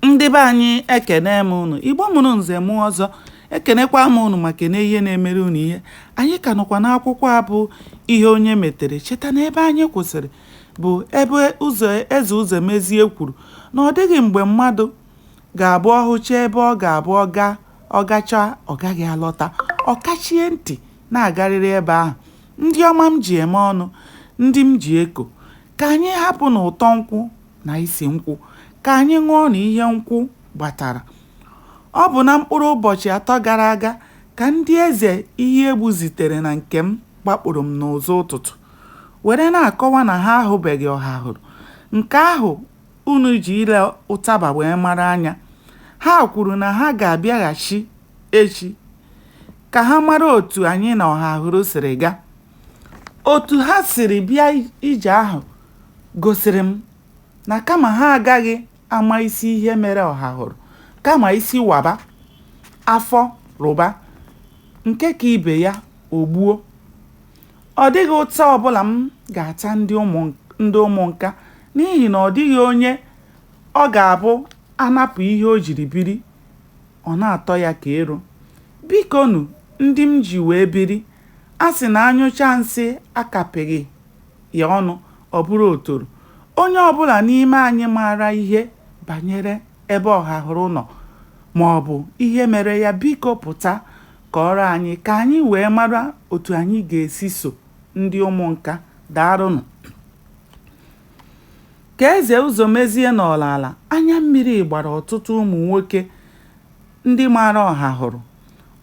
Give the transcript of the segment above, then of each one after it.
ndị be anyị ekene m unu igbo mụrụ nze mụọ ọzọ ekenekwa m unu ma kene ihe na-emere unu ihe anyị ka nọkwa n'akwụkwọ a bụ ihe onye metere cheta na ebe anyị kwụsịrị bụ ebe eze ụzọmezie kwuru na ọ dịghị mgbe mmadụ ga-abụ ọ hụcha ebe ọ ga-abụ ọ gachaa ọ gaghị alọta ọ kachie ntị na-agarịrị ebe ahụ ndị ọma m ji eme ọnụ ndị m ji eko ka anyị hapụ na ụtọ nkwụ na isi nkwụ ka anyị ṅụọ na ihe nkwụ gbatara ọ bụ na mkpụrụ ụbọchị atọ gara aga ka ndị eze ihe egbu zitere na nke m gbakpụrụ m n'ụzọ ụtụtụ were na-akọwa na ha ahụbeghị ọhahụrụ nke ahụ unu ji ile ụtaba wee mara anya ha kwuru na ha ga-abịaghachi echi ka ha mara otu anyị na ọhahụrụ siri gaa Otu ha siri bịa ije ahụ gosiri m na kama ha agaghị ama isi ihe mere Ọhahụrụ, kama isi waba, afọ rụba, nke ka ibe ya o gbuo. Ọ dịghị ụta ọbụla m ga-ata ndị Ụmụnka n'ihi na ọ dịghị onye ọ ga-abụ a napụ ihe o jiri biri, ọ na-atọ ya ka ero. Bikonu, ndị m ji wee biri, A sị na a nyụchaa nsị a kapịghị ya ọnụ, ọ bụrụ otoro. Onye ọ bụla n'ime anyị maara ihe banyere ebe Ọhahụrụ nọ ma ọ bụ ihe mere ya, biko pụta kọọrọ anyị ka anyị wee mara otu anyị ga-esi so ndị Ụmụnka. Daarụnụ. Ka Eze Ụzọmezie nọrọ ala, anya mmiri gbara ọtụtụ ụmụ nwoke ndị maara Ọhahụrụ.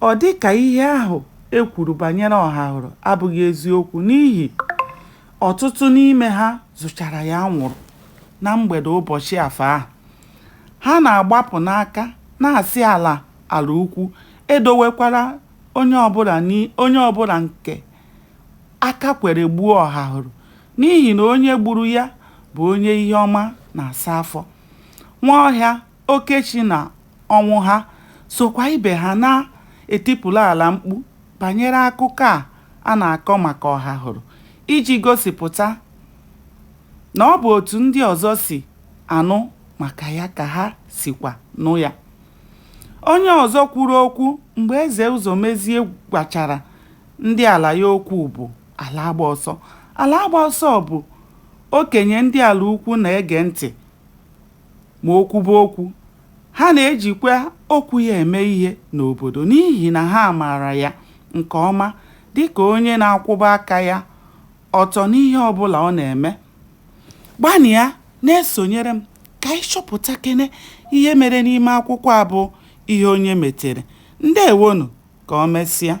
Ọ dị ka ihe ahụ e kwuru banyere Ọhahụrụ abụghị eziokwu n'ihi ọtụtụ n'ime ha zụchara ya anwụrụ na mgbede ụbọchị Afọ ahụ. Ha na-agbapụ n'aka, na-asị ala Alaukwu edowekwara onye bụ onye ọ bụla nke aka kwere gbuo Ọhahụrụ n'ihi na onye gburu ya bụ onye ihe ọma na-asa afọ. Nwaọhịa Okechi na Ọnwụha sokwa ibe ha na-etipụrụ ala mkpu banyere akụkọ a a na-akọ maka Ọhahụrụ iji gosipụta na ọ bụ otu ndị ọzọ si anụ maka ya ka ha sikwa nụ ya. Onye ọzọ kwuru okwu mgbe Eze Ụzọmezie gwachara ndị ala ya okwu bụ Alaagbaọsọ. Alaagbaọsọ bụ okenye ndị Alaukwu na-ege ntị Ma o kwube okwu, ha na-ejikwa okwu ya eme ihe n'obodo n'ihi na ha maara ya nke ọma dị ka onye na-akwụba aka ya ọtọ n'ihe ọ bụla ọ na-eme. Gbanịa na-esonyere m ka anyị chọpụtakene ihe mere n'ime akwụkwọ a bụ Ihe Onye Metere. Ndeewonụ, ka o mesịa.